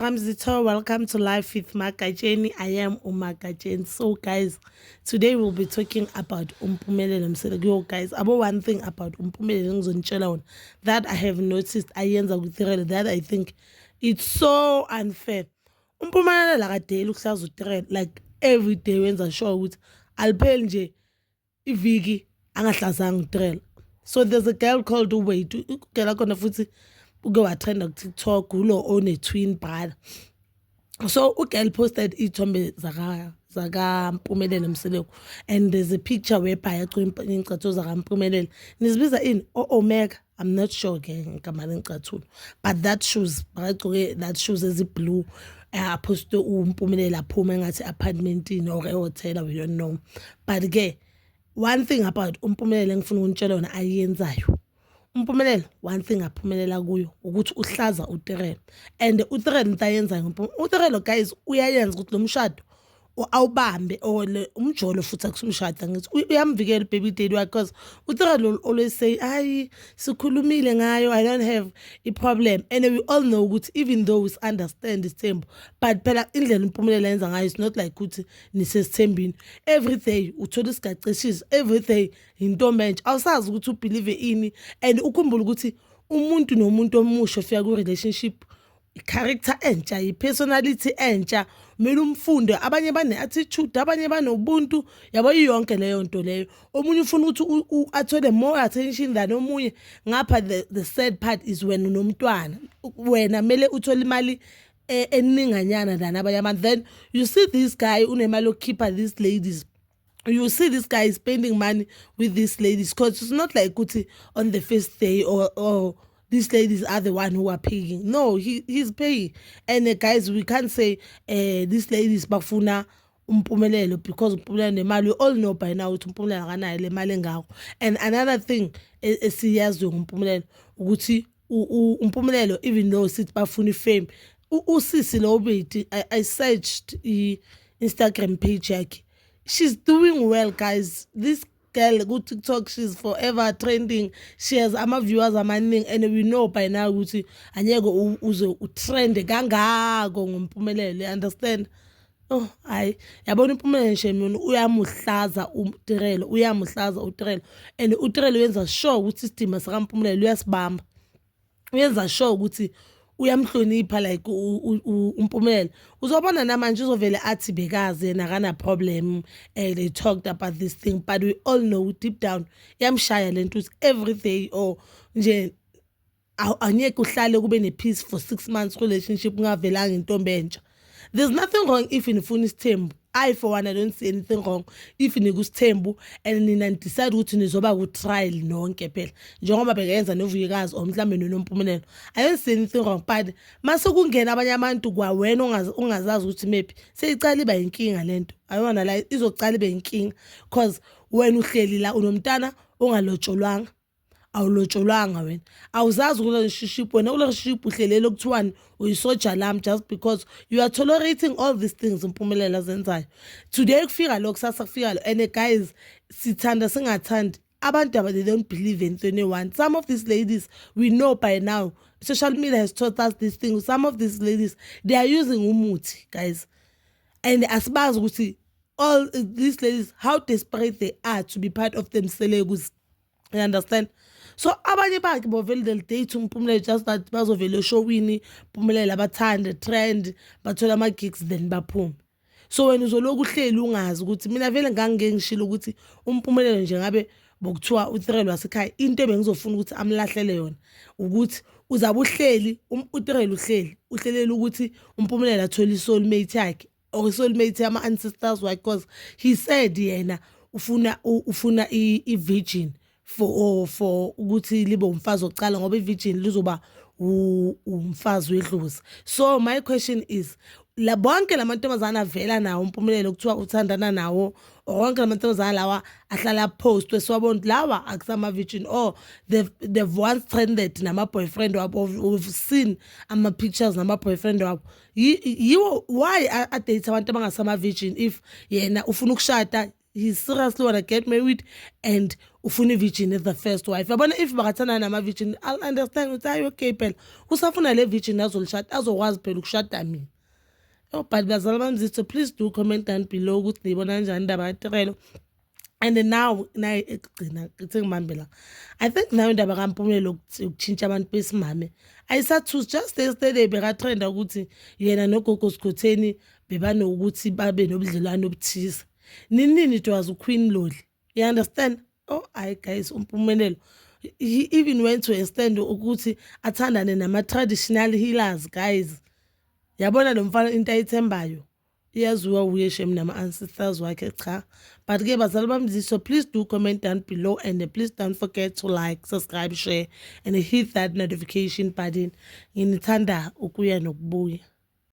Mzito, welcome to Life with Makacheni. I am Umakacheni. So, guys, today we'll be talking about Umpumelelo Msele. Yo, guys, about one thing about Umpumelelo Ngzonchela that I have noticed. I yenza kutirele that I think it's so unfair. Umpumelelo akadeli ukuhlaza utirele like every day wenza sure ukuthi alipheli nje iviki angahlazanga utrela so there's a girl called uwait ugela khona futhi uke wathanda kutiktok ulo one-twin brother so ugirl posted iy'thombe zakampumelelo mseleku and there's a picture webhayi acula ingcatho zakampumelelo nizibiza ini o-omega oh, oh, I'm not sure ke ngigama lengicathulo but that shoes bakagcoke that shoes eziblue aphoste umpumelelo aphuma engathi apartmentini or ehotela we don't know but ke one thing about umpumelelo engifuna ukunitshela yona ayenzayo umpumelelo one thing aphumelela kuyo ukuthi uhlaza utirelo and utirelo into ayenzayo umpumelelo utirelo guys uyayenza ukuthi lo mshado awubambe or umjolo futhi akusumshada ngithi uyamvikela baby daddy wakhe because uThera lo always say hayi sikhulumile ngayo i don't have a problem and we all know ukuthi even though we understand isithembu but phela indlela impumelelo yenza ngayo it's not like ukuthi nisesithembini every day uthola isigacishisi every day yintombi entsha awusazi ukuthi ubelieve ini and ukhumbule ukuthi umuntu nomuntu omusha ofika ku relationship i-character entsha i-personality entsha kumele umfunde abanye bane-attitude abanye banobuntu yabo iyonke leyo nto leyo omunye ufuna ukuthi athole more attention than omunye ngapha the, the sad part is wena unomntwana wena kumele uthole imali e, eninganyana than abanye abantu then you see this guy unemali yokukhipha these ladies you see this guy is spending money with these ladies because it's not like Kuti on the first day or, or these ladies are the one who are paying. No, he, he's paying. And uh, guys, we can't say uh, these ladies bafuna umpumelelo because umpumelelo nemali we all know by now ukuthi umpumelelo akanayo le mali engako and another thing e, esiyaziyo ngompumelelo ukuthi umpumelelo even though sithi bafuna ifame usisi lo ubiti I, i searched i-instagram page yakhe she's doing well guys this girl ku-tiktok she's forever trending she has ama-viewers amaningi and we know by now ukuthi anyeke uze utrende kangako ngompumelelo you understand Oh hayi yabona impumela nje mina uyamuhlaza uTirelo uyamuhlaza uTirelo and uTirelo uyenza sure ukuthi isidima sikaMpumelelo uyasibamba uyenza sure ukuthi uyamhlonipha like uMpumelelo uzobona namanje uzovele athi bekazi yena kana problem eh they talked about this thing but we all know deep down yamshaya lento every day or nje angeke uhlale kube ne-peace for six months relationship ungavelanga intombi entsha there's nothing wrong if nifuna isithembu i for one i don't see anything wrong if nikusithembu and nina nidecide ukuthi nizoba ku-trial nonke phela njengoba bekayenza novuyekazi or mhlawumbe nonompumelelo i don't see anything wrong but mase kungena abanye abantu kwawena ungazazi ukuthi mephi seyiqala iba yinkinga le nto ayona la izoqala ibe yinkinga because wena uhleli la unomntana ongalotsholwanga awulotsholwanga wena awuzazi kule relationship wena kule relationship uhlelele okuthiwani uyisoja lami just because you are tolerating all these things mpumelela zenzayo today kufika lo kusasa kufika lo and guys sithanda singathandi abantu aba they don't believe in 21 some of these ladies we know by now social media has taught us this thing some of these ladies they are using umuthi guys and asibazi ukuthi all these ladies how desperate they are to be part of them selekuzidela you understand so abanye bakhe bovele they'll date umpumelelo just that bazovele eshowini pumelele abathande trend bathole ama-gigs then baphume so wena uzolokhu uhleli ungazi ukuthi mina vele ngangike ngishilo ukuthi umpumelelo nje ngabe bokuthiwa utirelo wasekhaya into ebengizofuna ukuthi amlahlele yona ukuthi uzabe uhleli um, utirelo uhleli uhlelela ukuthi umpumelelo athole isoulmate yakhe or oh, soulmate ama ancestors why because he said yena ufuna ufuna i virgin for oh, for ukuthi libe umfazi oqala ngoba i virgin lizoba umfazi wedlozi so my question is la bonke lamantombazane avela nawo umpumelelo kuthiwa uthandana nawo wonke lamantombazane lawa ahlala postwe siwabona lawa akusama virgin or oh, they've, they've once trended nama boyfriend wabo we've seen ama pictures nama boyfriend wabo yiwo why adate abantu abangasama-virgin if yena ufuna ukushada he's seriously wanna get married and ufuna i-virgin as the first wife yabona if bakathandana nama-virgin i'll understand ukuthi hayi okay phela usafuna le virgin azolishada azokwazi phela ukushada mina oh but bazala bamzitho please do comment down below ukuthi niyibona kanjani indaba yatirelo and now naye ekugcina ngithe ngibambe la i think nayo indaba kampumlelo yokutshintsha abantu besimame ayisathusi just yesterday bekatrenda ukuthi yena nogogo sigotheni bebanokuthi babe nobudlelwane obuthize ninini it was uqueen loli you understand oh hayi guys umpumelelo he even went to a stand ukuthi athandane nama-traditional healers guys yabona lo mfana into ayithembayo iyaziwa wuye shem nama-ancestors wakhe cha but ke bazali bami ziso please do comment down below and please don't forget to like subscribe share and hit that notification button nginithanda ukuya nokubuya